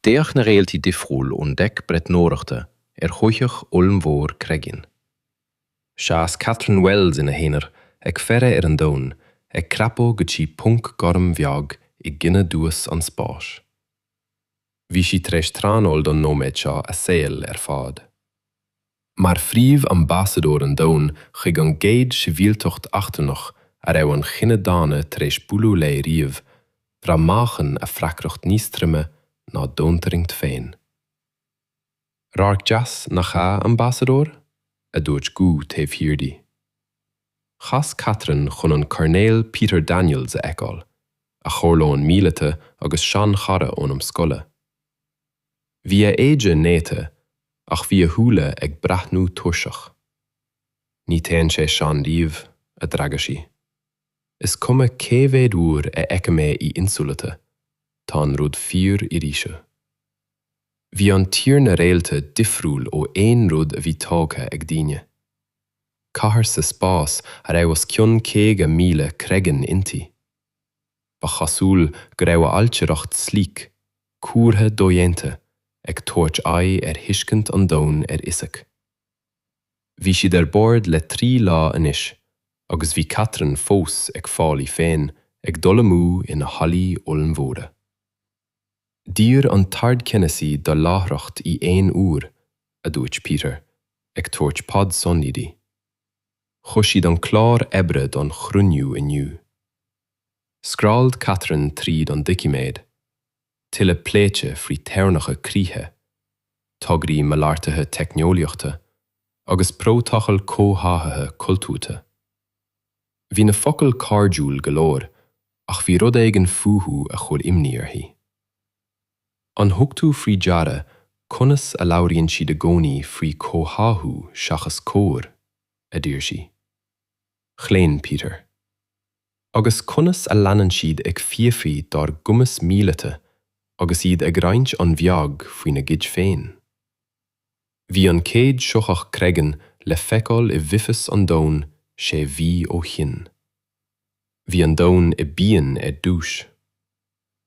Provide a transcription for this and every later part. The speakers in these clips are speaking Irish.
D'fhéach na réaltaí difriúil ón deic breathnóireachta ar shoitheach ollmhór Kreggan. Sheas Catherine Wells ina haonar ag faire ar an domhan ag crapadh go dtí ponc gorm bheag i gcoinne dubhas an spáis. Bhí sí tar éis traenáil don nóiméad seo a saol ar fad. Mar phríomh-ambasadóir an domhain chuig an gcéad sibhialtacht eachtrannach a raibh an chine daonna tar éis bualadh léi riamh, bhraith meáchan a freagracht níos troime ná domhantarraingt féin. Radharc deas nach ea, ambasadóir? a dúirt guth taobh thiar di. Chas Catherine chun an Coirnéal Peter Daniels a fheiceáil, a chomhairleoir míleata agus seanchara ón am scoile. Bhí a éide néata ach bhí a shúile ag breathnú tuirseach. 'Ní théann sé sean riamh, a d'fhreagair sí. 'Is cuma cé mhéad uair a fheicim é i insamhaltaí, tá an rud fíor arís. Bhí an Tír na Réalta difriúil ó aon rud a bhí tógtha ag daoine. Cathair sa spás a raibh os cionn caoga míle Kreggan inti. Ba chosúil go raibh ailtireacht sleek, cuartha dodhéanta, ag tabhairt aghaidh ar thuiscint an domhain ar fhisic. Bhí siad ar bord le trí lá anois, agus bhí Catherine fós ag fáil í féin ag dul amú ina hallaí ollmhóra. D'iarr an tArdcheannasaí do láithreacht i aon uair, a dúirt Peter, ag tabhairt pad sonraí di. Chuir siad an clár oibre don chruinniú inniu. Scrolled Catherine tríd an doiciméad, tuilleadh pléite faoi theorainneacha críche, tograí malartaithe teicneolaíochta agus prótacal comhtháthaithe cultúrtha. Bhí na focail cairdiúil go leor ach bhí rud éigin fúthu a chuir imní uirthi. An thug tú faoi deara conas a labhraíonn siad i gcónaí faoi comhtháthú seachas comhar? a d'iarr sí. Chlaon Peter. agus conas a leanann siad ag fiafraí dár gcumas míleata agus iad ag roinnt an-bheag faoina gcuid féin. Bhí an chéad shoitheach Kreggan le feiceáil i bhfithis an domhain sé mhí ó shin. Bhí an domhan i bpian ar dtús.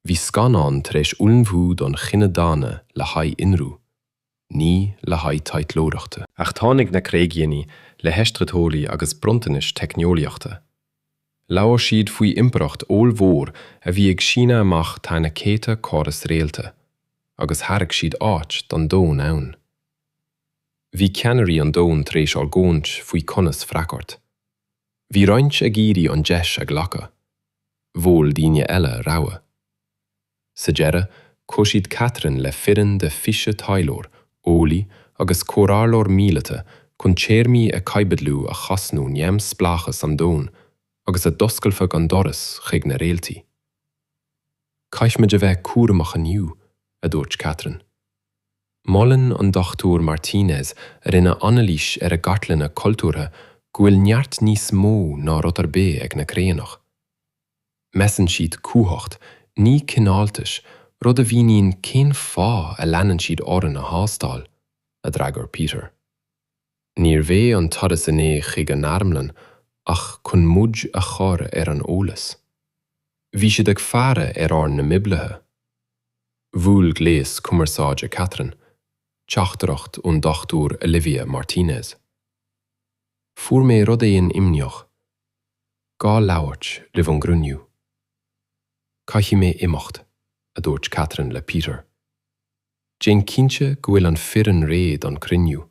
Bhí scannán tar éis ullmhú don chine daonna le haghaidh ionradh, ní le haghaidh taidhleoireachta. Ach tháinig na Créigianí le haistritheoirí agus bronntanais teicneolaíochta. Labhair siad faoi impireacht ollmhór a bhí ag síneadh amach thar na céadta córas réalta, agus thairg siad áit don domhan ann. Bhí ceannairí an domhain tar éis argóint faoi conas freagairt. Bhí roinnt ag iarraidh an deis a ghlacadh. Mhol daoine eile rabhadh. Sa deireadh, chuir siad Catherine le foireann de 20 taidhleoir, eolaí agus comhairleoir míleata chun téarmaí a chaibidliú a chosnódh neamshpleáchas an domhain agus a d'oscailfeadh an doras chuig na réaltaí. Caithfimid a bheith cúramach inniu, a dúirt Catherine. Molann an Dr Martinez a rinne anailís ar a gcartlanna cultúrtha go bhfuil neart níos mó ná rud ar bith ag na Créanach. Measann siad cumhacht, ní cineáltais, rud a mhíníonn cén fáth a leanann siad orainn á thástáil, a d'fhreagair Peter. Níorbh é an turas inné chuig an armlann ach chun muid a chur ar an eolas. Bhí siad ag faire ar ár n-imoibrithe. Bhuail gléas cumarsáide Catherine, teachtaireacht ón Dr Olivia Martínez. Fuair mé rud éigin imníoch, gá labhairt roimh an gcruinniú. Caithfidh mé imeacht, a dúirt Catherine le Peter. Déan cinnte go bhfuil an foireann réidh don cruinniú.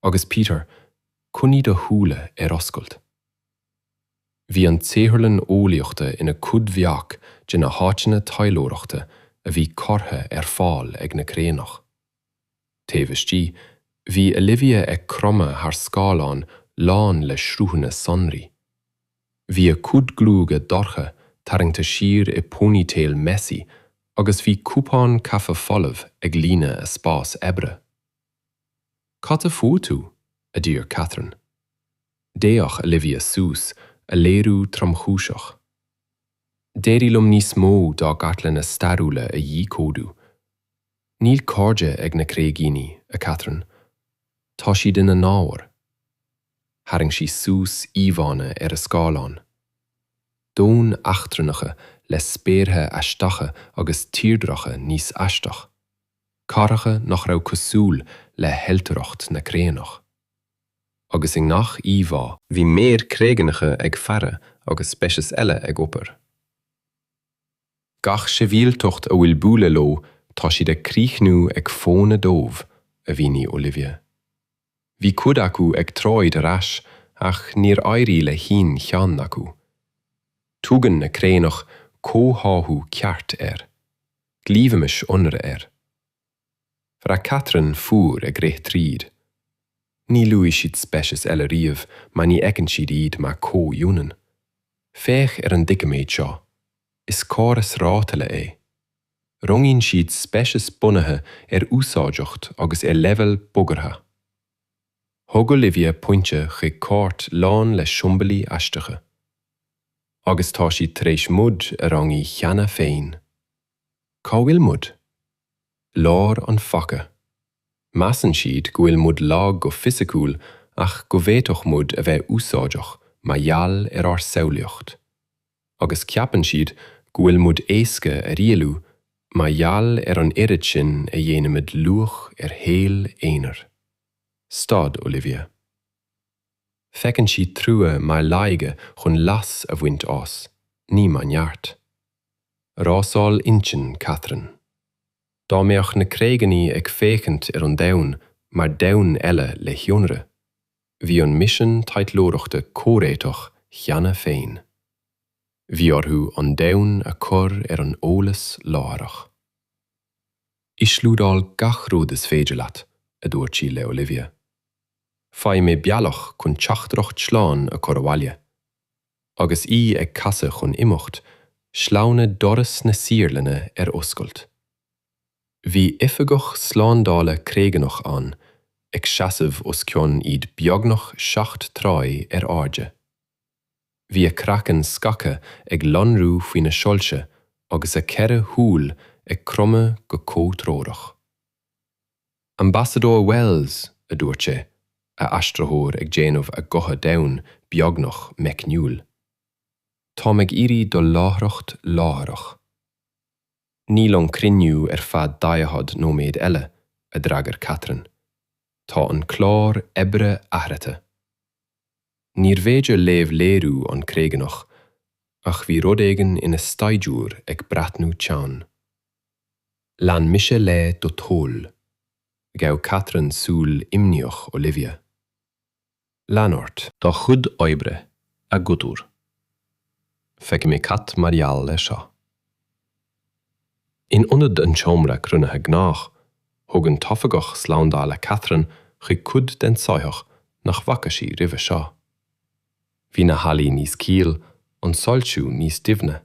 Agus Peter, coinnigh do shúile ar oscailt. Bhí an tsaotharlann eolaíochta ina cuid bheag de na háiteanna taidhleoireachta a bhí curtha ar fáil ag na Créanach. Taobh istigh, bhí Olivia ag cromadh thar scáileán lán le sruthanna sonraí. Bhí a cuid gruaige dorcha tarraingte siar i ponytail messy agus bhí cupán caife folamh ag líonadh a spás oibre. Cad a fuair tú? a d'iarr Catherine. D'fhéach Olivia suas, a léiriú tromchúiseach. D'éirigh liom níos mó dá gcartlanna stairiúla a dhíchódú. Níl cairde ag na créigíní, a Catherine. Tá siad ina n-ábhair. Tharraing sí suas íomhánna ar a scáileán. Domhain eachtrannacha le spéartha aisteacha agus tírdreacha níos aisteach. Cathracha nach raibh cosúil le hailtireacht na Créanach. Agus i ngach íomhá. Bhí maoir créigeanacha ag faire agus speicis eile ag obair. Gach sibhialtacht a bhfuil bualadh leo tá siad ag críochnú ag fónamh dóibh, a mhínigh Olivia. Bhí cuid acu ag troid ar ais ach níor éirigh le haon cheann acu. Tugann na Créanach comhtháthú ceart air. Glaofaimis ionradh air. Bhraith Catherine fuar ag rith tríd. Níor luaigh siad speiceas eile riamh mar ní fheiceann siad iad mar comhionann. Féach ar an doiciméad seo. Is córas rátaile é. Rangaíonn siad speiceas bunaithe ar úsáideacht agus ar leibhéal bagartha. Thug Olivia pointe chuig cairt lán le siombailí aisteacha. Agus tá siad tar éis muid a rangú cheana féin. Cá bhfuil muid? Lár an phaca. Measann siad go bhfuil muid lag go fisiciúil ach go bhféadfadh muid a bheith úsáideach mar gheall ar ár samhlaíocht. Agus ceapann siad go bhfuil muid éasca a rialú mar gheall ar an oiread sin a dhéanaimid luach ar shaol aonair. Stad, Olivia. Feiceann siad trua mar laige chun leas a bhaint as, ní mar neart. Rásáil intinn Catherine. Dá mbeadh na Créigeanaigh ag féachaint ar an domhan mar domhan eile le hionradh, bhí an misean taidhleoireachta comhréiteach cheana féin. Bhí orthu an domhan a chur ar an eolas láithreach. Íoslódáil gach rud is féidir leat, a dúirt sí le Olivia. Faigh mé bealach chun teachtaireacht slán a chur abhaile. Agus í ag casadh chun imeacht, shleamhnaigh doras na saotharlainne ar oscailt. Bhí oifigeach slándála Créigeanach ann, ag seasamh os cionn iad beagnach seacht troigh ar airde. Bhí a craiceann scagtha ag lonrú faoi na soilse agus a ceithre shúil ag cromadh go comhthreorach. Ambasadóir Wells, a dúirt sé, a aistritheoir ag déanamh a ghutha domhain beagnach meicniúil. Táim ag iarraidh do láithreacht láithreach. Níl an cruinniú ar feadh daichead nóiméad eile, a d'fhreagair Catherine. Tá an clár oibre athraithe. Níor bhféidir léamh léiriú an Créigeanach, ach bhí rud éigin ina staidiúir ag breathnú teann. Lean mise le do thoil. Ghabh Catherine súil imníoch Olivia. Lean ort do chuid oibre, a Dhochtúir. Feicfidh mé cad mar gheall ar seo. In ionad an tseomra cruinnithe gnách, thug an t-oifigeach slándála Catherine chuig cuid den soitheach nach bhfaca sí roimhe seo. Bhí na hallaí níos caoile, an soilsiú níos doimhne.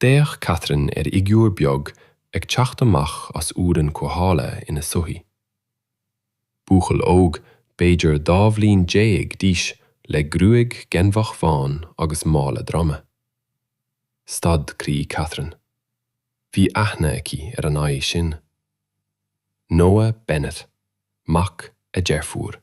D'fhéach Catherine ar fhigiúr beag ag teacht amach as urrann cothabhála ina soithí. Buachaill óg, b'fhéidir dhá bhliain déag d'aois le gruaig ghainmheach bhán agus mála droma. Stad croí Catherine. Bhí aithne aici ar an aghaidh sin. Noah Bennett, mac a deirfiúr.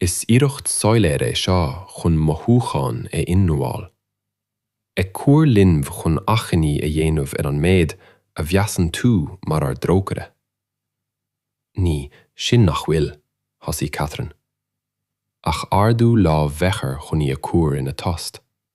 Is iarracht soiléir é seo chun mothúcháin a ionramháil. Ag cur linbh chun achainí a dhéanamh ar an méid a mheasann tú mar ár dtrócaire. Ní sin nach bhfuil, thosaigh Catherine, ach ardú lámh bheachar chun í a chur ina tost.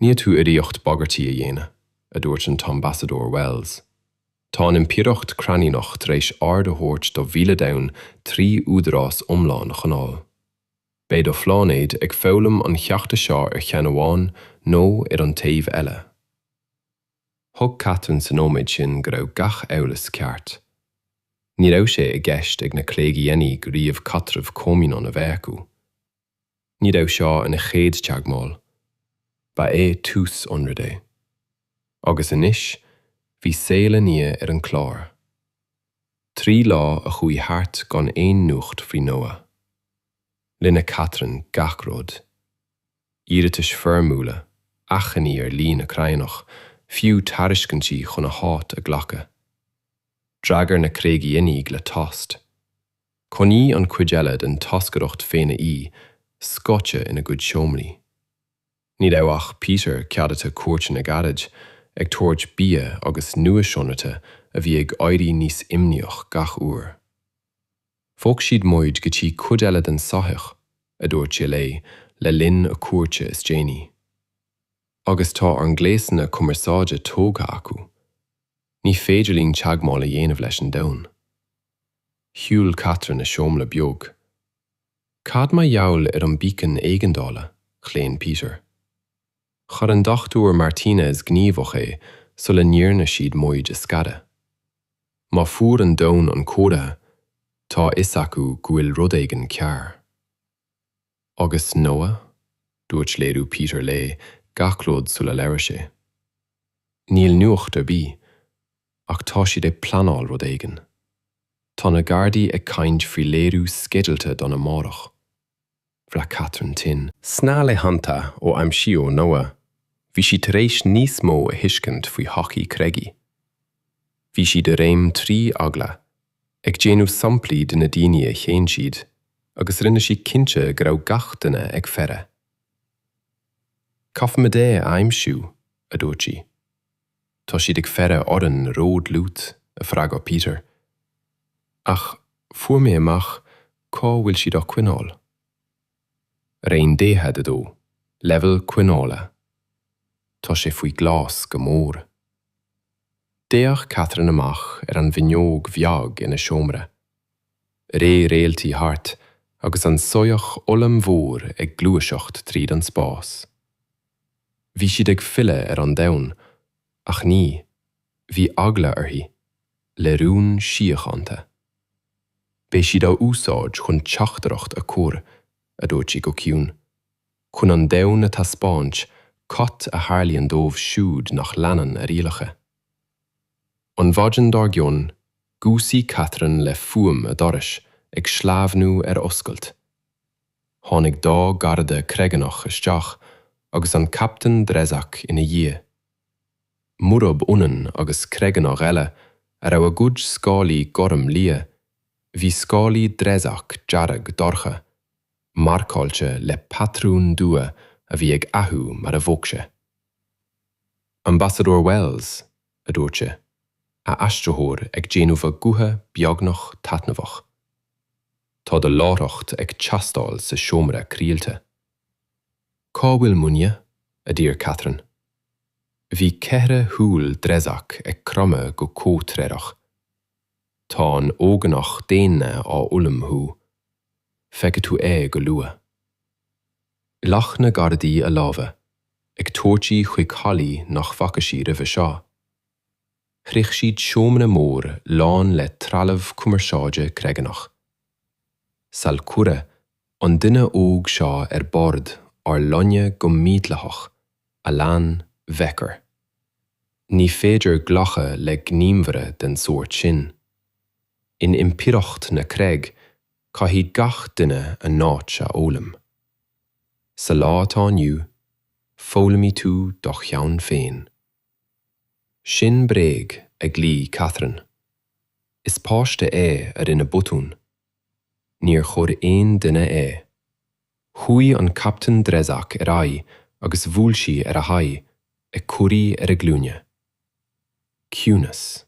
Níl tú i riocht bagairtí a dhéanamh, a dúirt an tAmbasadóir Wells. Tá an Impireacht Crainíneach tar éis ord a thabhairt do mhíle domhan trí údarás iomlán a choinneáil. Beidh do phláinéad ag foghlaim an cheachta seo ar cheann amháin nó ar an taobh eile. Thuig Catherine sa nóiméad sin go raibh gach amhras ceart. Ní raibh sé i gceist ag na Créigíeanaigh riamh caidreamh comhionann a bheith acu. Ní raibh seo ina chéad teagmháil, ba é tús ionraidh é. Agus anois bhí saol a nia ar an chlár. Trí lá a chuaigh thart gan aon nuacht faoi Noah. Rinne Catherine gach rud. Iarratais foirmiúla, achainí ar líne crannach, fiú tairiscintí chun a háit a ghlacadh. D'fhreagair na Créigíeanaigh le tost. Coinníodh an chuid eile den toscaireacht dhaonna scoite ina gcuid seomraí. Ní raibh ach Peter ceadaithe cuairteanna gairid, ag tabhairt bia agus nuashonruite a bhí ag éirí níos imníoch gach uair. Bhog siad muid go dtí cuid eile den soitheach, a dúirt sé léi le linn a cuairte is déanaí. Agus tá ár ngléasanna cumarsáide tógtha acu. Ní féidir linn teagmháil a dhéanamh leis an domhan. Shiúil Catherine a seomra beag. Cad mar gheall ar an beacon éigeandála? chlaon Peter. Chuir an Dr Martinez gníomhach é sula ndearna siad muid a scaradh. Má fuair an domhan an comhartha, tá a fhios acu go bhfuil rud éigin cearr. Agus Noah, dúirt léiriú Peter léi gach rud sula labhair sé. Níl nuacht ar bith, ach tá siad ag pleanáil rud éigin. Tá na Gardaí ag caint faoi léiriú sceidealta don amárach. Bhraith Catherine tinn. Sna laethanta ó aimsíodh Noah, bhí sí tar éis níos mó a thuiscint faoi shochaí Craigie. Bhí siad i réim trí eagla ag déanamh samplaí de na daoine a shéan siad agus rinne siad cinnte go raibh gach duine ag faire. Caithfimid é a aimsiú, a dúirt sí. Tá siad ag faire orainn ródhlúth, a freagair Peter. Ach fuair mé amach cá bhfuil siad á choinneáil. Roinn 42, Leibhéal coinneála Tá sé faoi ghlas go mór. D'fhéach Catherine amach ar an bhfuinneog bheag ina seomra. Rith réaltaí thart agus an soitheach ollmhór ag gluaiseacht tríd an spás. Bhí siad ag filleadh ar an domhan, ach ní, bhí eagla uirthi, le rún síochánta. Beidh siad á úsáid chun teachtaireacht a chur, a dúirt sí go ciúin, chun an domhan a thaispeáint cad a tharlaíonn dóibh siúd nach leanann a rialacha. An mhaidin dár gcionn, dhúisigh Catherine le fuaim a dorais ag sleamhnú ar oscailt. Tháinig dhá gharda Creaganach isteach agus an Captaen Drezak ina dhiaidh. Murab ionann agus Creaganach eile a raibh a gcuid scálaí gorm liath, bhí scálaí Drezak dearg dorcha, marcáilte le patrúin dubha a bhí ag athú mar a bhog sé. Ambasadóir Wells, a dúirt sé, a aistritheoir ag déanamh a ghutha beagnach taitneamhach. Tá do láithreacht ag teastáil sa seomra craolta. Cá bhfuil mo nia? a d'iarr Catherine. Bhí ceithre shúil Drezak ag cromadh go comhthreorach. Tá an óganach daonna á ullmhú. Feicfidh tú é go luath. Ghlac na gardaí a lámha, ag tabhairt í chuig hallaí nach bhfaca sí roimhe seo. Shroich siad seomra mór lán le trealamh cumarsáide Creaganach. Sal cuireadh an duine óg seo ar bord ár loinge go mídhleathach, a lean Vexar. Ní féidir glachadh le gníomhaire den sórt sin. In Impireacht na Creag, caithfidh gach duine a n-áit a fhoghlaim. Sa lá atá inniu, foghlaimfidh tú do cheann féin. Sin bréag, a ghlaoigh Catherine. Is páiste é a rinne botún. Níor chuir aon duine é. Chuaigh an Captaen Drezak ar aghaidh agus bhuail sí ar a haghaidh, ag cur í ar a glúine. Ciúnas.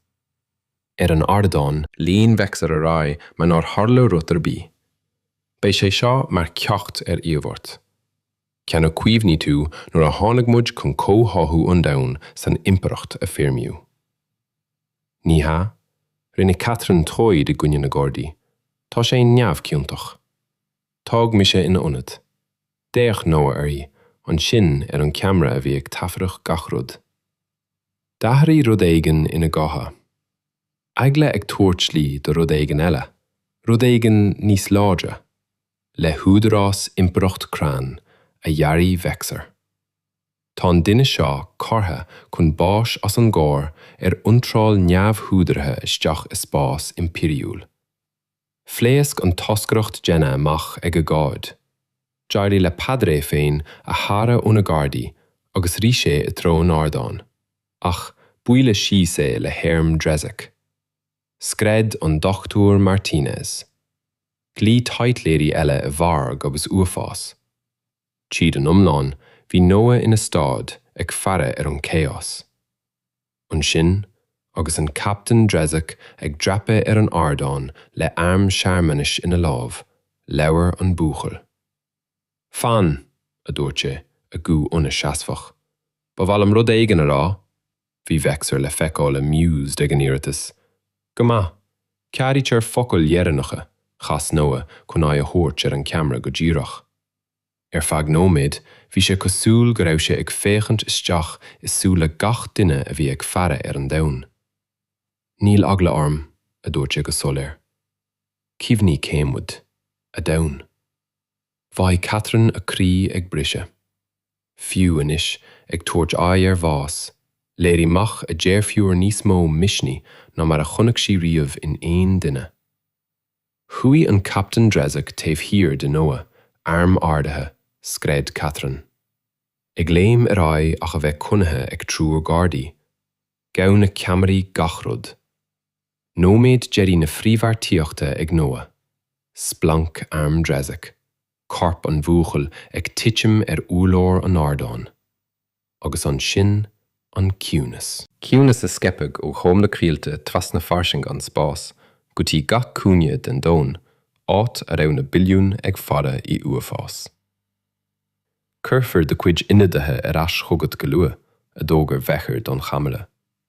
Ar an ardán. Lean Vexar ar aghaidh mar nár tharla rud ar bith. Beidh sé seo mar ceacht ar iarmhairt. Ceann a chuimhnigh tú nuair a tháinig muid chun comhtháthú an domhain san impireacht a foirmiú. Ní hea? Rinne Catherine troid i gcoinne na gardaí. Tá sé neamhchiontach. Tóg mise ina ionad. D'fhéach Noah uirthi, ansin ar an ceamra a bhí ag taifeadadh gach rud. D'athraigh rud éigin ina gotha. Eagla ag tabhairt slí do rud éigin eile, rud éigin níos láidre. le húdarás Impireacht Cran a dhearbhaigh Vexar. Tá an duine seo curtha chun báis as an gcoir ar iontráil neamhúdaraithe isteach i spás Impiriúil. Phléasc an toscaireacht daonna amach ag agóid. D'éirigh le Peadar é féin a shaoradh óna gardaí agus rith sé i dtreo an ardáin, ach buaileadh síos é le harm Drezak. Scread an Dr. Martinez. Ghlaoigh taidhleoirí eile i bhfearg agus uafás. Tríd an iomlán, bhí Noah ina stad, ag faire ar an chaos. Ansin, agus an Captaen Drezak ag dreapadh ar an ardán le arm searmanais ina lámh, labhair an buachaill. Fan! a dúirt sé, a ghuth ionadh seasmhach. Ba mhaith liom rud éigin a rá! Bhí Vexar le feiceáil amused ag an iarratas. Go maith. Ceadaítear focail dheireanacha, chas Noah chun aghaidh a thabhairt ar an cheamara go díreach. Ar feadh nóiméid, bhí sé cosúil go raibh sé ag féachaint isteach i súile gach duine a bhí ag faire ar an domhan. Níl eagla orm, a dúirt sé go soiléir. Cuimhnigh cé muid. A domhan. Bhraith Catherine a croí ag briseadh. Fiú anois, ag tabhairt aghaidh ar bhás, léirigh mac a deirfiúr níos mó misnigh ná mar a chonaic sí riamh in aon duine. Chuaigh an Captaen Drezak taobh thiar de Noah, arm ardaithe, scread Catherine. Ag léim ar aghaidh ach a bheith coinnithe ag triúr gardaí. Ghabh na ceamaraí gach rud. Nóiméad deiridh na frithbheartaíochta ag Noah, splanc arm Drezak, corp an bhuachaill ag titim ar úrlár an ardáin. Agus ansin an ciúnas. Ciúnas a scaipfeadh ó thom na coillte trasna fairsinge an spáis go dtí gach cúinne den domhan, áit a raibh na billiúin ag faire i uafás. Cuirfear do chuid ionadaithe ar ais chugat go luath, a d'fhógair Vexar don cheamara.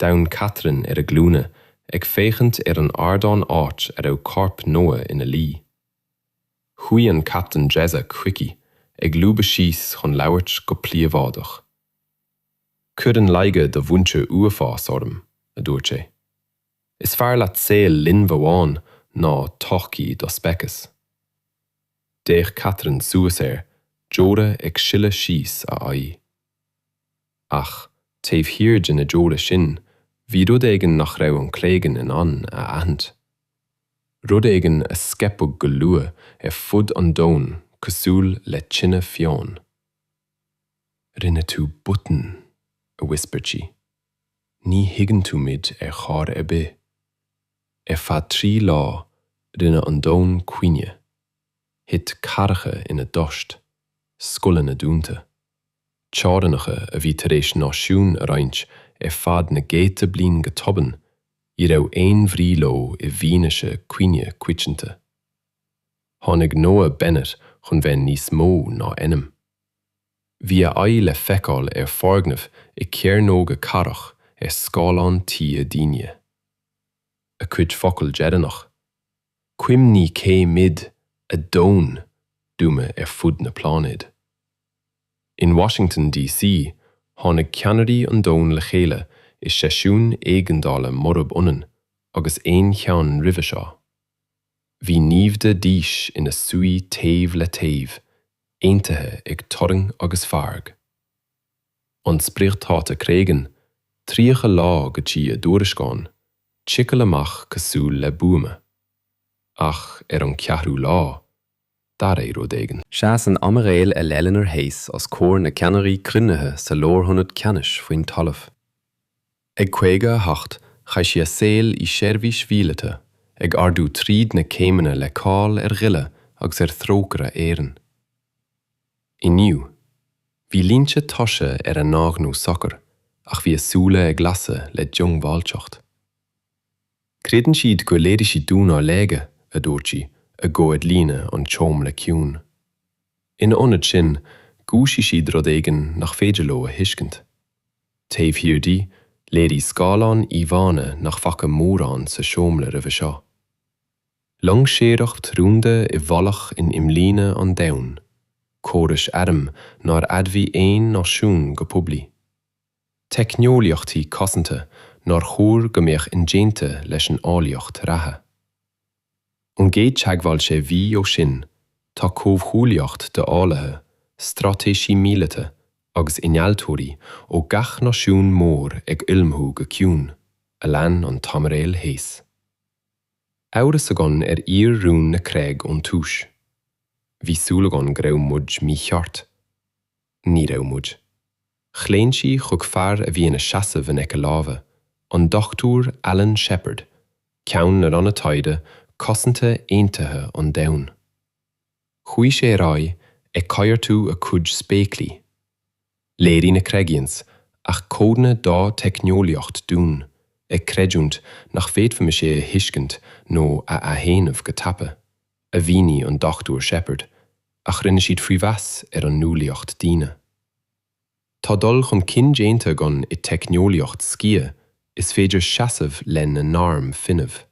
D'fhan Catherine ar a glúine ag féachaint ar an ardán áit a raibh corp Noah ina luí. Chuaigh an Captaen Drezak chuici, ag lúbadh síos chun labhairt go príobháideach. Cuireann laige do mhuintir uafás orm, a dúirt sé. Is fearr leat saol linbh amháin ná todhchaí do speiceas. D'fhéach Catherine suas air, deora ag sileadh síos a haghaidh. Ach taobh thiar de na deora sin, bhí rud éigin nach raibh an Cleggan in ann a aithint. Rud éigin a scaipeadh go luath ar fud an domhain cosúil le tine fiáin. 'Rinne tú botún, a whispered sí. 'Ní thuigeann tú muid ar chor ar bith. Ar feadh trí lá, rinne an domhan caoineadh. Thit cathracha ina dtost, scoileanna dúnta. teorainneacha a bhí tar éis náisiúin a roinnt ar feadh na gcéadta bliain go tobann, ní raibh aon bhrí leo i bhfianaise cuimhne coitianta. Tháinig Noah Bennett chun bheith níos mó ná ainm. Bhí a aghaidh le feiceáil ar fhoirgnimh i cearnóga cathrach ar scáileáin tí daoine. A chuid focal deireanach? Cuimhnigh cé muid ag fuaimniú ar fud an phláinéid. In Washington DC, tháinig ceannairí an domhain le chéile i seisiún éigeandála murab ionann agus aon cheann roimhe seo. Bhí naimhde aoise ina suí taobh le taobh, aontaithe ag turraing agus fearg. an spriocdháta Craigian 30 lá go dtí a dtuairisceán, ticeáil amach cosúil le buama. Ach ar an cheathrú lá, d'athraigh rud éigin. Sheas an Aimiréal Eleanor Hayes os comhair na ceannairí cruinnithe sa Lárionad Ceannais faoin talamh. Ag 58, chaith sí a saol i seirbhís mhíleata, ag ardú tríd na céimeanna le cáil ar ghile agus ar thrócaire araon. Inniu, bhí línte tuirse ar a haghaidh socair ach bhí a súile ag lasadh le diongbháilteacht. Creideann siad gur léirigh siad dúinn ár laige, a dúirt sí, a guth ag líonadh an tseomra ciúin. Ina ionad sin, dhúisigh siad rud éigin nach féidir leo a thuiscint. Taobh thiar di, léirigh scáileán íomhánna nach bhfaca mórán sa seomra roimhe seo. Loingseoireacht rúnda i bhfolach in imlíne an domhain, córais airm nár admhaigh aon náisiún go poiblí, teicneolaíochtaí cosanta nár chóir go mbeadh indéanta leis an eolaíocht reatha. Ón gcéad teagmháil sé mhí ó sin, tá comhghuaillíocht d'eolaithe, straitéisithe míleata agus innealtóirí ó gach náisiún mór ag ullmhú go ciúin, a lean an t-aimiréal Hayes. amhras againn ar fhíor-rún na Craig ón tús. Bhí súil againn go raibh muid mícheart. Ní raibh muid. Chlaon sí chuig fear a bhí ina sheasamh in aice láimhe, an Dr Alan Shepard, Ceann na Ranna Taighde Cosanta Aontaithe an Domhain. Chuaigh sé ar aghaidh ag coigeartú a chuid spéaclaí, níor léirigh na Craigians ach codanna dá dteicneolaíocht dúinn, ag creidiúint nach bhféadfaimis é a thuiscint nó a athdhéanamh go tapa, a mhínigh an Dr Sheppard, ach rinne siad faoi mheas ar an nualaíocht daonna. Tá dul chun cinn déanta againn i teicneolaíocht sciath, is féidir seasamh lena n-airm fuinnimh.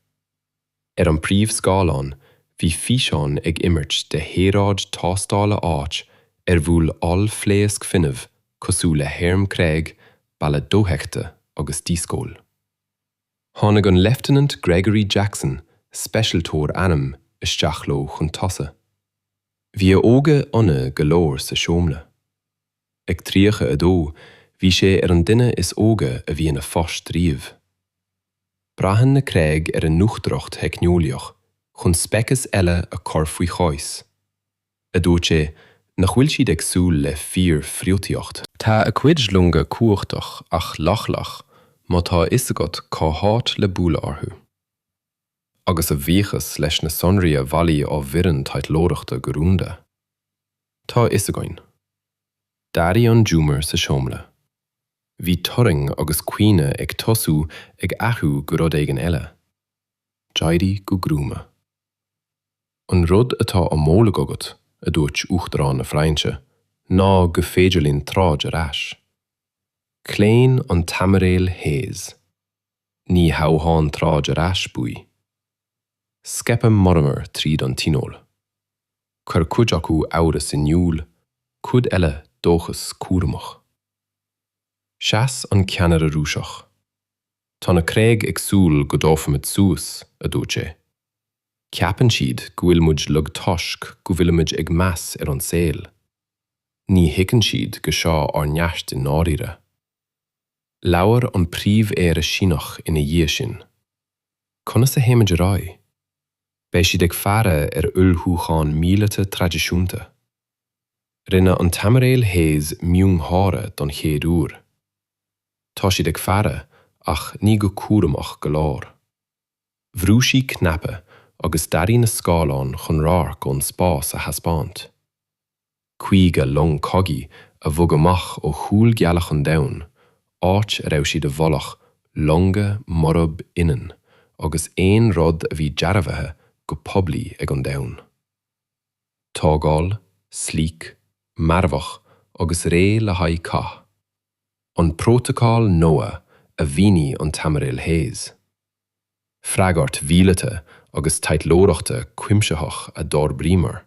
Ar an bpríomhscáileán, bhí físeáin ag imirt de shaoráid tástála áit ar bhuail ollphléasc fuinnimh cosúil le hairm Craig, balla dóiteachta agus díscaoil. Tháinig an Leifteanant Gregory Jackson, speisialtóir airm, isteach leo chun tosaigh. Bhí a óige ina ionadh go leor sa seomra. Ag 32, bhí sé ar an duine is óige a bhí ina phost riamh. Braitheann na Craig ar a n-uachtaracht theicneolaíoch chun speiceas eile a chur faoi chois, a dúirt sé, nach bhfuil siad ag súil le fíorfhriotaíocht. Tá a cuid longa cumhachtach ach leochaileach, má tá a fhios agat cá háit le bualadh orthu. agus a bhuíochas leis na sonraí a bhailigh ár bhfoireann taidhleoireachta go rúnda, tá a fhios againn. D'athraigh an giúmar sa seomra. Bhí turraing agus caoineadh ag tosú ag athrú go rud éigin eile. D'éirigh go gruama. An rud atá á mholadh agat, a dúirt Uachtarán na Fraince, ná gur féidir linn troid ar ais. Chlaon an tAimiréal Hayes. Ní hamháin troid ar ais, buaigh. Scaipeadh monabhar tríd an Tionól. Chuir cuid acu amhras in iúl, cuid eile dóchas cúramach. Sheas an ceannaire Rúiseach. Tá na Craig ag súil go dtabharfaimid suas, a dúirt sé. Ceapann siad go bhfuil muid lag toisc go bhfuilimid ag meas ar an saol. Ní thuigeann siad go seo ár neart i ndáiríre. Labhair an Príomh-Aire Síneach ina dhiaidh sin. Conas a théimid ar aghaidh? Beidh siad ag faire ar ullmhúcháin míleata traidisiúnta. Rinne an tAimiréal Hayes miongháire don chéad uair. Tá siad ag faire, ach ní go cúramach go leor. Bhrú sí cnaipe agus d'athraigh na scáileáin chun radharc ón spás a thaispeáint. Caoga long cogaidh a bhog amach ó chúl gealach an domhain, áit a raibh siad i bhfolach, longa murab ionann agus aon rud a bhí dearbhaithe go poiblí ag an domhan. Tógáil, sleek, marfach agus réidh le haghaidh cath. an Prótacal Noah a mhínigh an tAimiréal Hayes. Freagairt mhíleata agus taidhleoireachta cuimsitheach a d'fhorbraíomar,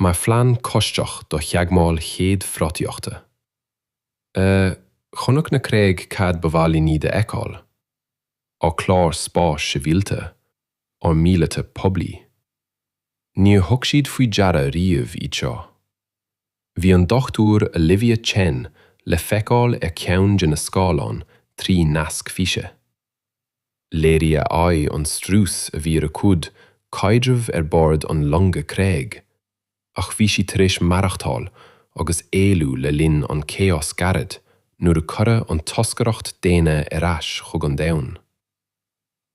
mar phlean coisctheach do theagmháil chéad friotaíochta. Chonaic na Craig cad ba mhaith linn iad a fheiceáil? Ár cláir spáis sibhialta, ár míleata poiblí. Níor thug siad faoi deara riamh iad seo. Bhí an Dr Olivia Chen le feiceáil ar cheann de na scáileáin trí nasc físe. Léirigh a aghaidh an strús a bhí ar a cuid caidreamh ar bord an longa Craag, ach bhí sí tar éis maireachtáil agus éalú le linn an chaos gairid nuair a cuireadh an toscaireacht daonna ar ais chug an domhan.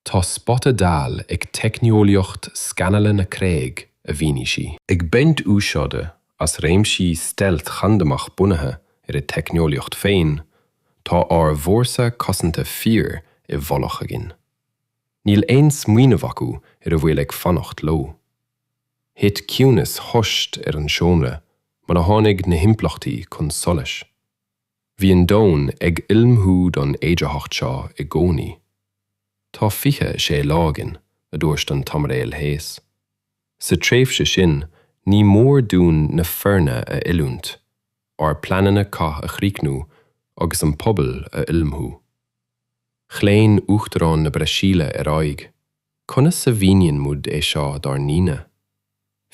Tá spota dall ag teicneolaíocht scanála na Craag, a mhínigh sí. Ag baint úsáide as réimsí stealth chandamach bunaithe ar a teicneolaíocht féin, tá ár bhfórsa cosanta fíor i bhfolach againn. Níl aon smaoineamh acu ar a bhfuil ag fanacht leo. Thit ciúnas thost ar an seomra mar a tháinig na himpleachtaí chun solais. Bhí an domhan ag ullmhú don fhéidearthacht seo i gcónaí. Tá 26 lá againn, a dúirt an tAimiréal Hayes. Sa tréimhse sin, ní mór dúinn na foirne a oiliúint, ár bpleananna cath a chríochnú agus an pobal a ullmhú. Chlaon Uachtarán na Brasaíle ar aghaidh, Conas a mhíníonn muid é seo dár ndaoine?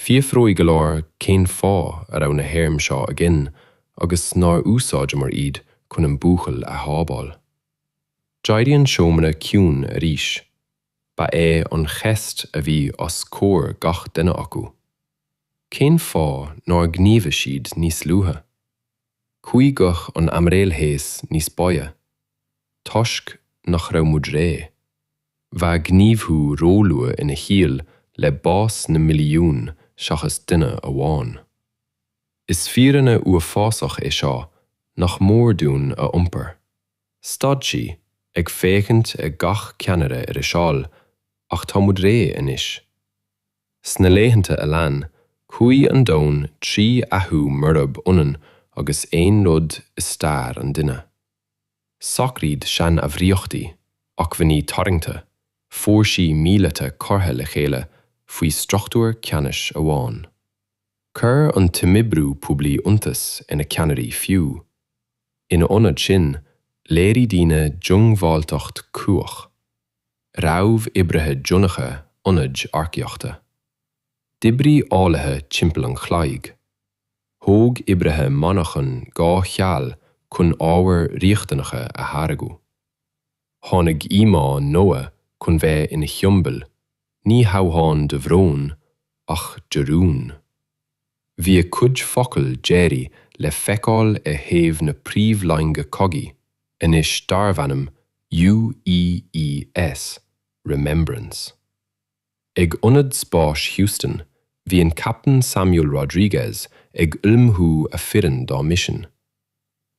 Fiafróidh go leor cén fáth a raibh na hairm seo againn agus nár úsáideamar iad chun an buachaill a shábháil. D'éirigh an seomra ciúin arís. Ba é an cheist a bhí os comhair gach duine acu, cén fáth nár ghníomhaigh siad níos luaithe? Chuaigh guth an aimiréil Hayes níos boige, Toisc nach raibh muid réidh. Bheadh gníomhú róluath ina chiall le bás na milliún seachas duine amháin. Is fírinne uafásach é seo nach mór dúinn a iompar. Stad sí, ag féachaint ag gach ceannaire ar a seal, Ach tá muid réidh anois. Sna laethanta a lean, chuaigh an domhan trí athrú murab ionann agus aon rud i stair an duine. Socraíodh seanbhruíonta, acmhainní tarraingte, fórsaí míleata curtha le chéile faoi struchtúr ceannais amháin. Chuir an t-imoibriú poiblí iontas ar na ceannairí fiú. Ina ionad sin, léirigh daoine diongbháilteacht cumhach. Raibh oibrithe deonacha ionaid earcaíochta. D'oibrigh eolaithe timpeall an chloig. Thóg oibrithe monarchan dhá sheal chun ábhair riachtanacha a tháirgeadh. Tháinig íomhá Noah chun bheith ina shiombail Ní hamháin de bhrón, ach de rún. Bhí a cuid focal deiridh le feiceáil ar thaobh na príomhloinge cogaidh, anois darb ainm UEES, Remembrance. Ag Ionad Spáis Houston, bhí an Captaen Samuel Rodriguez ag ullmhú a foireann dá misean.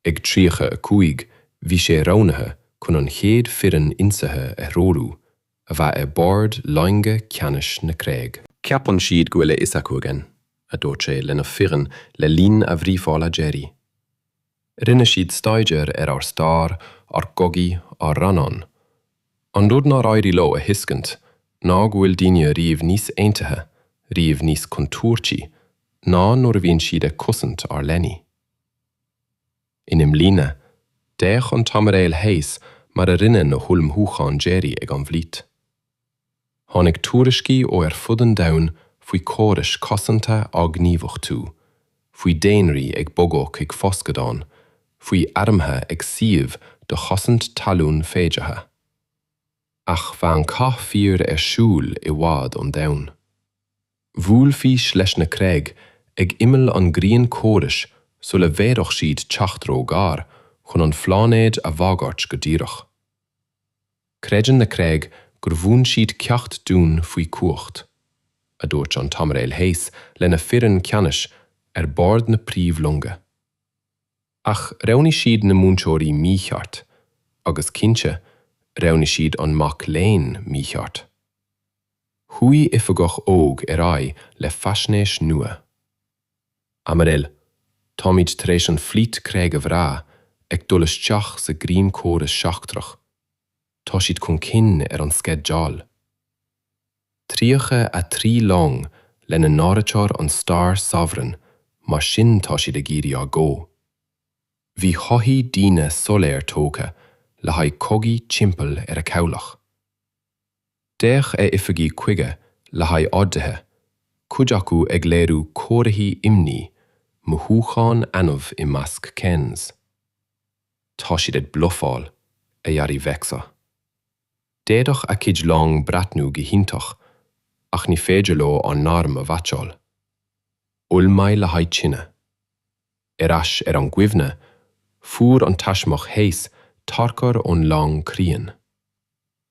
Ag 35, bhí sé roghnaithe chun an chéad foireann ionsaithe a threorú, a bheadh ar bord loinge ceannais na Creag. Ceapann siad go bhfuil a fhios acu againn, a dúirt sé lena foireann le linn a bhríofála deiridh. Rinne siad staidéar ar ár stair, ár gcogaí, ár rannáin. An rud nár éirigh leo a thuiscint ná go bhfuil daoine riamh níos aontaithe, riamh níos contúirtí, ná nuair a bhíonn siad ag cosaint ár leanaí. In imlíne, d'fhéach an tAimiréal Hayes mar a rinne na hullmhúcháin deiridh ag an bhflít. Tháinig tuairiscí ó ar fud an domhain faoi chórais cosanta á ngníomhachtú, faoi dhaonraí ag bogadh chuig foscadán, faoi armtha ag suíomh do chosaint talún féideartha. Ach bheadh an cath fíor ar siúl i bhfad ón domhan. Bhuailfidís leis na creag ag imeall an Ghrianchórais sula bhféadfadh siad teacht ró-ghar chun an phláinéid a bhagairt go díreach. Creideann na creag gur mhúin siad ceacht dúinn faoi chumhacht, a dúirt an tAimiréal Hayes lena foireann ceannais ar bord na príomhlonga. Ach roghnaigh siad na múinteoirí mícheart, agus cinnte, roghnaigh siad an mac léinn mícheart. Chuaigh oifigeach óg ar aghaidh le faisnéis nua. Aimiréil, táimid tar éis an flít creag a bhrath ag dul isteach sa grianchóras seachtrach. Tá siad chun cinn ar an sceideal. 33 long lena n-áiritear an Star Sovereign mar sin tá siad ag iarraidh ár gcomh. Bhí shoithí daonna soiléir tógtha le haghaidh cogaidh timpeall ar a cabhlach. D'fhéach a oifigigh chuige le haghaidh orduithe, cuid acu ag léiriú comharthaí imní, mothúchán annamh i measc Ken's. Tá siad ag blufáil, a dhearbhaigh Vexa. D'fhéadfadh a cuid long breathnú go hiontach, ach ní féidir leo ár n-arm a mheaitseáil. Ullmhaigh le haghaidh tine. Ar ais ar an gcuimhne, fuair an taismeach Hayes tarchur ón long críon.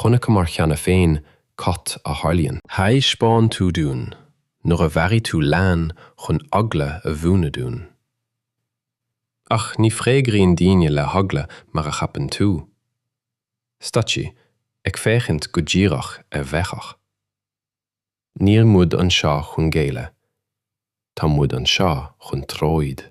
Chonaiceamar cheana féin cad a tharlaíonn. Thaispeáin tú dúinn nuair a mharaigh tú leann chun eagla a mhúnadh dúinn. Ach ní fhreagraíonn daoine le heagla mar a cheapann tú. Stad sí, ag féachaint go díreach ar Mhechach. Níl muid anseo chun géilleadh. Tá muid anseo chun troid.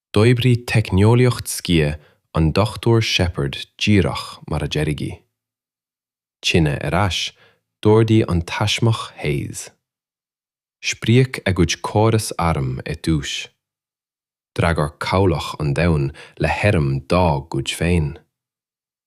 D'oibrigh teicneolaíocht sciath an Dr Shepherd díreach mar a dearadh í. Tine ar ais, d'ordaigh an taismeach Hayes. Spríoc a gcuid córas arm ar dtús. D'fhreagair cabhlach an domhain le hairm dá gcuid féin.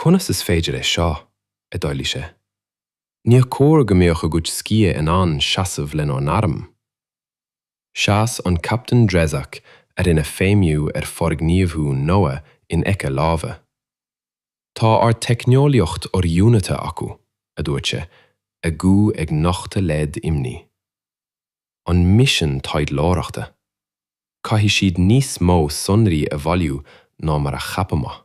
Conas is féidir é seo? a d'éiligh sé. Níor chóir go mbeadh a gcuid sciath in ann seasamh lenár n-arm. Sheas an Captaen Drezac a rinne feidhmiú ar fhorghníomhú Noa in aice láimhe. Tá ár teicneolaíocht oriúnaithe acu, a dúirt sé, a ghuth ag nochtadh leid imní. An misean taidhleoireachta. Caithfidh siad níos mó sonraí a bhailiú ná mar a cheapamar.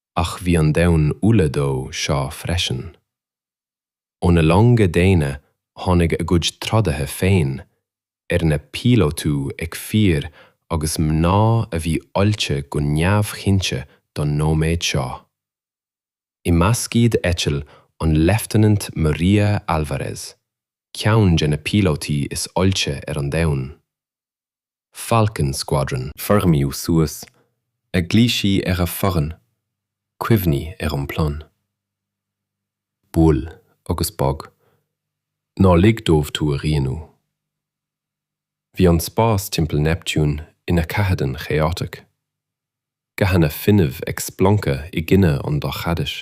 ach bhí an domhan ullamh dó seo freisin. Ó na longa daonna tháinig a gcuid trodaithe féin, arna bpíolótú ag fir agus mná a bhí oilte go neamhchuimseach don nóiméad seo. I measc iad eitil an Leifteanant Maria Alvarez, ceann de na píolótaí is oilte ar an domhan. Falcon Squadron. Foirmiú suas, a ghlaoigh sí ar a foireann, cuimhnigh ar an bplean. Buail agus bog. Ná lig dóibh tú a rianú. Bhí an spás timpeall Neptune ina chathéadan chaotic. Gathanna fuinnimh ag splancadh i gcoinne an dorchadais.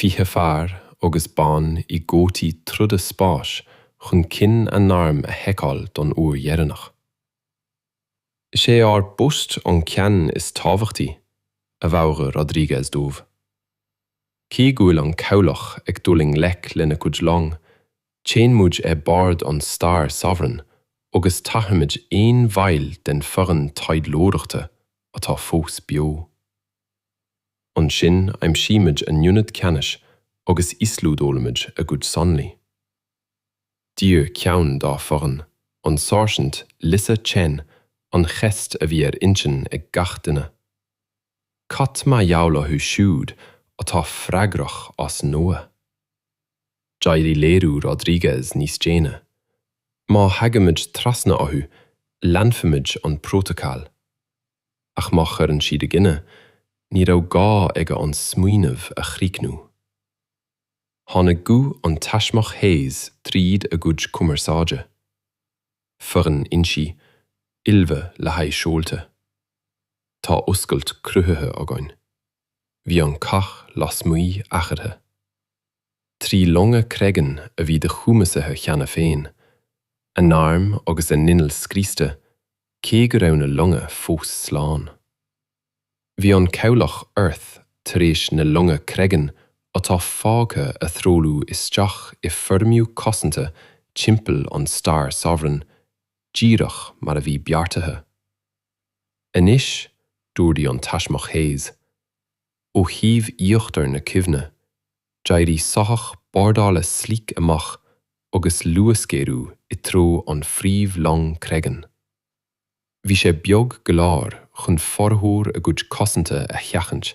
20 fear agus bean i gcótaí troda spáis chun cinn a n-airm a sheiceáil don uair dheireanach. Is é ár bpost an ceann is tábhachtaí, a mheabhraigh Rodriguez dóibh. Cé go bhfuil an cabhlach ag dul i ngleic lena gcuid long, téann muid ar bord an Star Sovereign agus tarrthóimid aon bhaill den foireann taidhleoireachta atá fós beo. Ansin aimsímid a n-ionad ceannais agus íoslódálaimid a gcuid sonraí. D'iarr ceann dá foireann, an Sáirsint Lisa Chen, an cheist a bhí ar intinn ag gach duine, Cad mar gheall orthu siúd atá freagrach as Noah? D'éirigh léiriú Rodriguez níos déine, Má thagaimid trasna orthu, leanfaimid an prótacal. ach má chuireann siad i gcoinne, ní raibh gá aige an smaoineamh a chríochnú. Tháinig guth an taismeach Hayes tríd a gcuid cumarsáide. Foireann insí, ullmhaigh le haghaidh seolta. Tá oscailt cruthaithe againn. Bhí an cath lasmuigh eatarthu. Trí longa Cregan a bhí díchumasaithe cheana féin, a n-airm agus a n-innill scriosta, cé go raibh na longa fós slán. Bhí an cabhlach Earth tar éis na longa Cregan atá fágtha a threolú isteach i foirmiú cosanta timpeall an Star Sovereign, díreach mar a bhí beartaithe. Anois, d'ordaigh an taismeach Hayes, ó thaobh íochtar na Cuimhne, d'éirigh soitheach bordála sleek amach agus luasghéaraigh i dtreo an phríomh long Cregan. Bhí sé beag go leor chun formhór a gcuid cosanta a sheachaint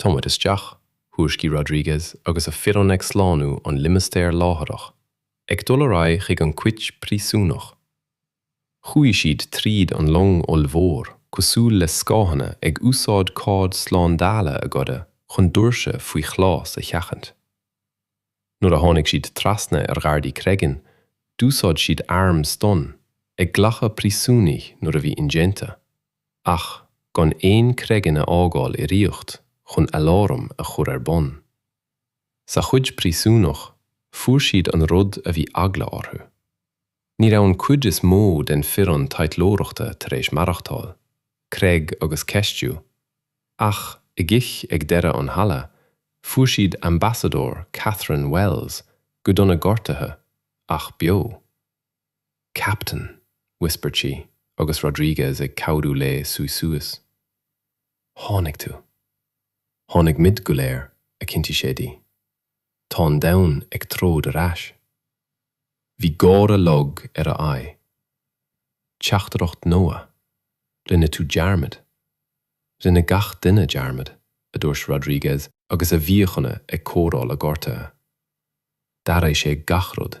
Táimid isteach, thuairiscigh Rodrigues agus a foireann ag slánú an limistéar láithreach, ag dul ar aghaidh chuig an cuid príosúnach. Chuaigh siad tríd an long ollmhór cosúil le scáthanna ag úsáid cóid slándála a goideadh chun doirse faoi ghlas a sheachaint. Nuair a tháinig siad trasna ar ghardaí Cregan, d'úsáid siad airm stun, ag glacadh príosúnaigh nuair a bhí indéanta. ach gan aon Cregan a fhágáil i riocht chun aláram a chur ar bun. Sa chuid príosúnach, fuair siad an rud a bhí eagla orthu. Ní raibh an cuid is mó den foireann taidhleoireachta tar éis maireachtáil, Cregan ag ceistiú, ach i gcich ag deireadh an halla, fuair siad Ambasadóir Catherine Wells go dona gortaithe, ach beo. Captain! whispered sí, agus Rodriguez ag cabhrú léi suí suas. Tháinig tú. Tháinig muid go léir, a chinntigh sé di. Tá an domhan ag troid ar ais. Bhí gáire lag ar a aghaidh. Teachtaireacht Noah? Rinne tú dearmad. Rinne gach duine dearmad, a dúirt Rodriguez agus a mhíochaine ag cóireáil a gortuithe. D'athraigh sé gach rud.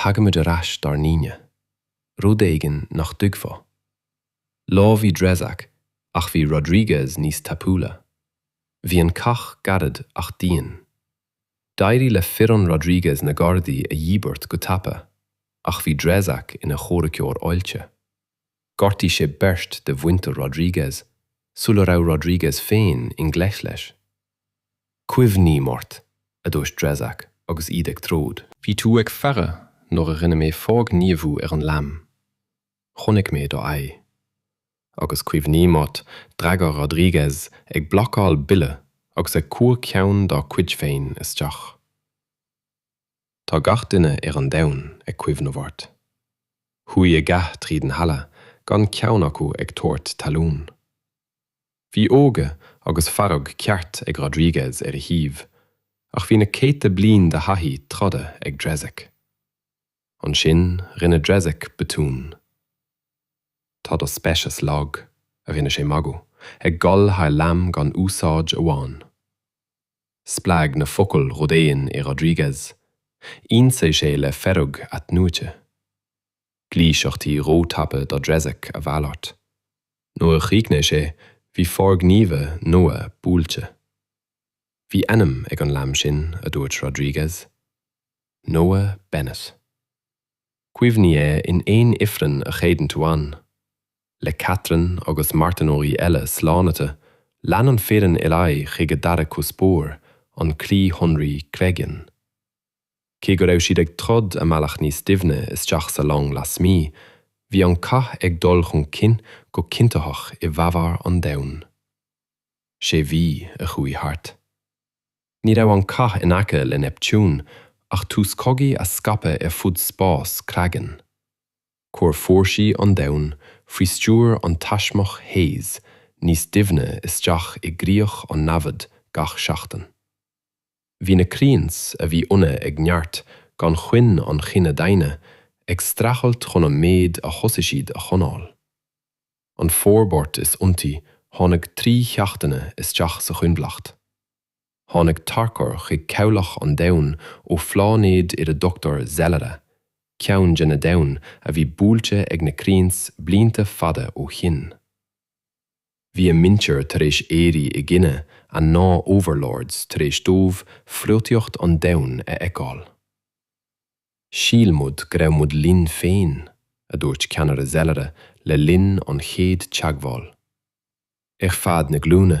tagaimid ar ais dár ndaoine, rud éigin nach dtuigfeá. Lámhaigh Drezak ach bhí Rodriguez níos tapúla. Bhí an cath gairid ach dian. D'éirigh le foireann Rodriguez na gardaí a dhíbirt go tapa ach bhí Drezak ina chomhraiceoir oilte. Gortaíodh sé beirt de mhuintir Rodriguez sula raibh Rodriguez féin i ngleic leis. Cuimhním ort, a dúirt Drezak agus iad ag troid. Bhí tú ag faire nuair a rinne mé forghníomhú ar an leanbh. Chonaic mé do aghaidh. Agus cuimhním ort d'fhreagair Rodriguez ag blocáil buille agus ag cur ceann dá cuid féin isteach. Tá gach duine ar an domhan ag cuimhneamh ort. Chuaigh a gcath tríd an halla gan ceann acu ag tabhairt talún. Bhí óige agus fearg ceart ag Rodriguez ar a thaobh, ach bhí na céadta bliain de thaithí troda ag Dreizek. Ansin rinne Dreizek botún. Tá do speiceas lag, a rinne sé magadh, ag gol thar leanbh gan úsáid amháin. Spreag na focail rud éigin i Rodriguez, ionsaigh sé le fearg athnuaite. gluaiseachtaí rótapa do Dreizek a mhalairt. Nuair a chríochnaigh sé, bhí forghníomhaí Noah buailte. Bhí ainm ag an leanbh sin, a dúirt Rodriguez. Noah Bennett. Cuimhnigh air in aon ifreann a chreideann tú ann. Le Katherine agus marthanóirí eile slánaite, lean an foireann ar aghaidh chuig a dara cuspóir, an Croí Shonraí Creggian. Cé go raibh siad ag troid a mbealach níos doimhne isteach sa long lasmuigh, bhí an cath ag dul chun cinn go cinntitheach i bhfabhar an domhain. Sé mhí a chuaigh thart. Ní raibh an cath in aice le Neptune ach tús cogaidh a scaipeadh ar fud spás Creggian. Chuir fórsaí an domhain faoi stiúir an taismeach Hayes níos doimhne isteach i gcríoch an namhad gach seachtain. Bhí na craeins, a bhí ionadh ag neart gan choinne an chine daonna, ag streachailt chun an méid a thosaigh siad a choinneáil. An fhorbairt is iontaí tháinig trí sheachtaine isteach sa choinbhleacht. Tháinig tarchur chuig cabhlach an domhain ó phláinéad ar a dtugtar Zellara, ceann de na domhain a bhí buailte ag na craeins blianta fada ó shin. Bhí a muintir tar éis éirí i gcoinne a ndá overlords tar éis dóibh friotaíocht an domhain a fheiceáil. Shíl muid go raibh muid linn féin, a dúirt ceannaire Zellara le linn an chéad teagmháil. Ar feadh na glúine,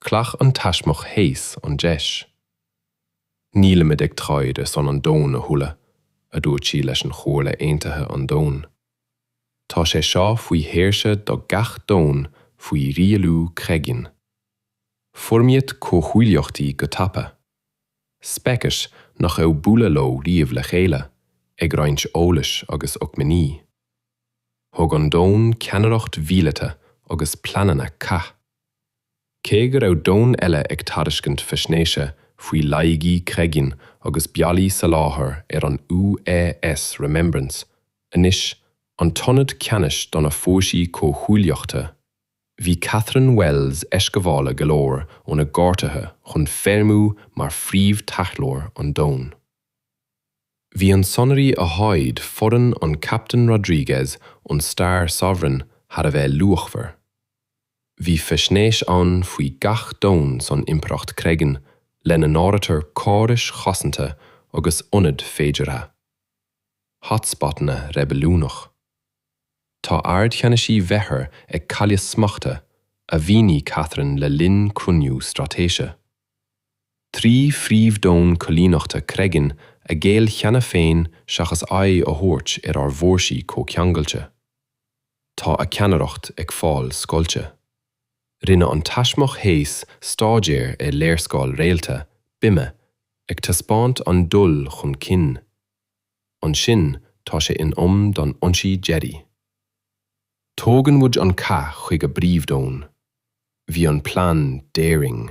Ghlac an taismeach Hayes an deis. Nílimid ag troid ar son an domhain a thuilleadh, a dúirt sí leis an Chomhairle Aontaithe an Domhain. Tá sé seo faoi shaoirse do gach domhan faoi rialú Creggian. Foirmíodh comhghuaillíochtaí go tapa. Speicis nach raibh bualadh leo riamh le chéile, ag roinnt eolais agus acmhainní. Thug an domhan ceannaireacht mhíleata agus pleananna cath. Cé go raibh domhan eile ag tairiscint faisnéise faoi laigí Cregan agus bealaí soláthair ar an UAS Remembrance, anois an t-ionad ceannais do na fórsaí comhghuaillíochta, bhí Catherine Wells eisghabhála go leor óna gcairtithe chun feidhmiú mar phríomh-taidhleoir an domhain. Bhí an sonraí a tháid foireann an Captaen Rodriguez ón Star Sovereign thar a bheith luachmhar. Bhí faisnéis ann faoi gach domhan san Impireacht Cregan, lena n-áirítear córais chosanta agus ionad féideartha. Hotspotanna reibiliúnach. Tá ardcheannasaí Bheithir ag cailleadh smachta, a mhínigh Catherine le linn cruinniú straitéise. Trí phríomhdhomhan coilíneachta Cregan a ghéill cheana féin seachas aghaidh a thabhairt ar ár bhfórsaí comhceangailte. Tá a ceannaireacht ag fáil scoilte. Rinne an taismeach Hayes stáidéar ar léarscáil réalta, bime, ag taispeáint an dul chun cinn. Ansin tá sé in am don ionsaí deiridh. Tógann muid an cath chuig a bpríomhdhomhan. Bhí an plean daring.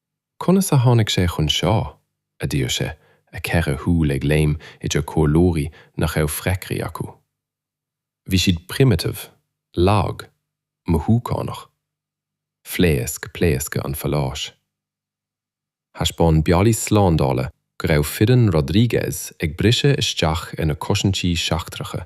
Conas a tháinig sé chun seo? a d'iarr sé, a cheithre shúil ag léim idir comhairleoirí nach raibh freagraí acu. Bhí siad primitive, lag, mothúchánach. Phléasc pléascadh an phaláis. Thaispeáin bealaí slándála go raibh foireann Rodriguez ag briseadh isteach ina cosaintí seachtracha.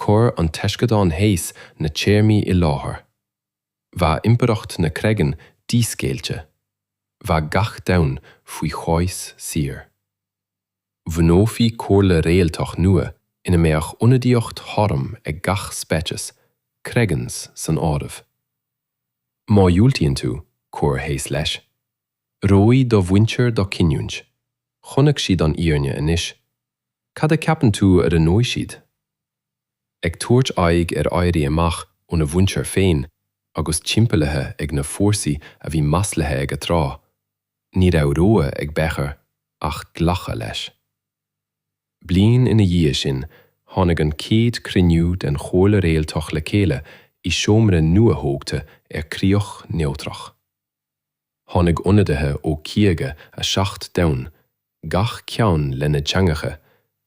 Chuir an taisceadán Hayes na téarmaí i láthair. Bheadh impireacht na Cregan díscaoilte. Bheadh gach domhan faoi chois saor. Bhunófaí comhairle réaltach nua ina mbeadh ionadaíocht chothrom ag gach speiceas, Cregans san áireamh. Má dhiúltaíonn tú, chuir Hayes leis, Roghnóidh do mhuintir do cinniúint. Chonaic siad an fhírinne anois. Cad a ceapann tú a roghnóidh siad? Ag tabhairt aghaidh ar éirí amach óna mhuintir féin agus timpeallaithe ag na fórsaí a bhí maslaithe aige tráth, ní raibh rogha ag Becher ach glacadh leis. Bliain ina dhiaidh sin tháinig an céad cruinniú den Chomhairle Réaltach le chéile i seomra nuathógtha ar críoch neodrach. Tháinig ionadaithe ó 57 domhan, gach ceann lena dteangacha,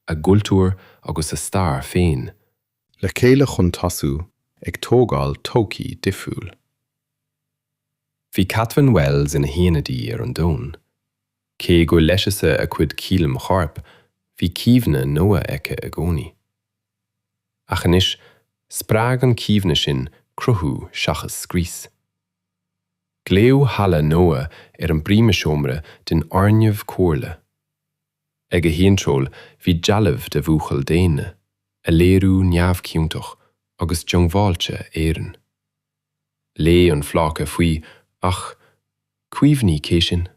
a gcultúir agus a stair féin, le chéile chun tosú ag tógáil todhchaí difriúil. Bhí Catherine Wells ina hionadaí ar an domhan. Cé gur leigheasadh a cuid coilm choirp, bhí cuimhne Noah aici i gcónaí. Ach anois, spreag an chuimhne sin cruthú seachas scrios. Glaodh Halla Noah ar an bpríomhsheomra den fhoirgneamh comhairle. Ag a hiontráil bhí dealbh de bhuachaill daonna, a léiriú neamhchiontach agus diongbháilte araon. Léigh an phláca faoi ach, cuimhnigh cé sinn?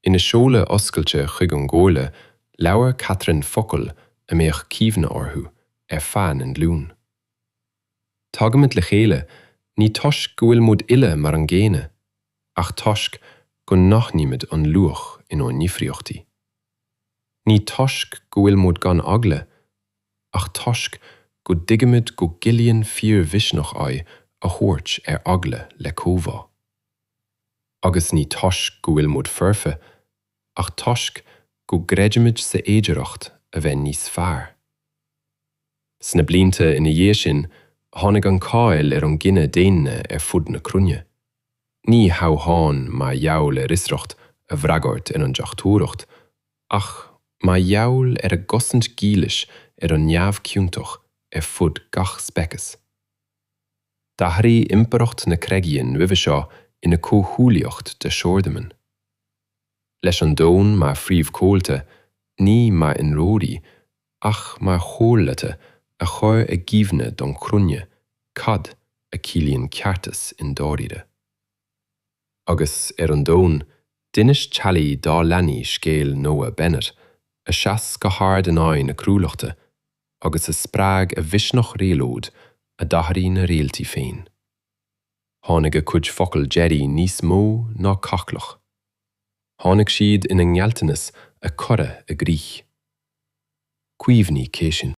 Ina seoladh oscailte chuig an gcomhairle, labhair Catherine focail a mbeadh cuimhne orthu ar feadh na nglún. Tagaimid le chéile, ní toisc go bhfuil muid uile mar an gcéanna, ach toisc go n-aithnímid an luach inár ndifríochtaí. Ní toisc go bhfuil muid gan eagla, ach toisc go dtuigimid go gciallaíonn fíormhisneach aghaidh a thabhairt ar eagla le comhbhá. Agus ní toisc go bhfuil muid foirfe, ach toisc go gcreidimid sa fhéidearthacht a bheith níos fearr. Sna blianta ina dhiaidh sin, tháinig an cáil ar an gcine daonna ar fud na cruinne, ní hamháin mar gheall ar fhiosracht a bhfreagairt ar an deachtóireacht, ach mar gheall ar a gcosaint dhílis ar an neamhchiontach ar fud gach speiceas. D'athraigh Impireacht na Cregian roimhe seo ina comhghuaillíocht de shaordhomhain. Leis an domhan mar phríomhchomhalta, ní mar ionróirí, ach mar chomhairleacha a chur i gcuimhne don chruinne cad a chiallaíonn ceartas i ndáiríre. Agus ar an domhan, d'inis teaghlaigh dá leanaí scéal Noah Bennett, a sheas go hard in aghaidh na cruálachta, agus a spreag a mhisneach réabhlóid a d'athraigh na réaltaí féin. tháinig a cuid focal deiridh níos mó ná cathghlaoch. Tháinig siad ina ngealltanas a cuireadh i gcrích. Cuimhnigh cé sinn.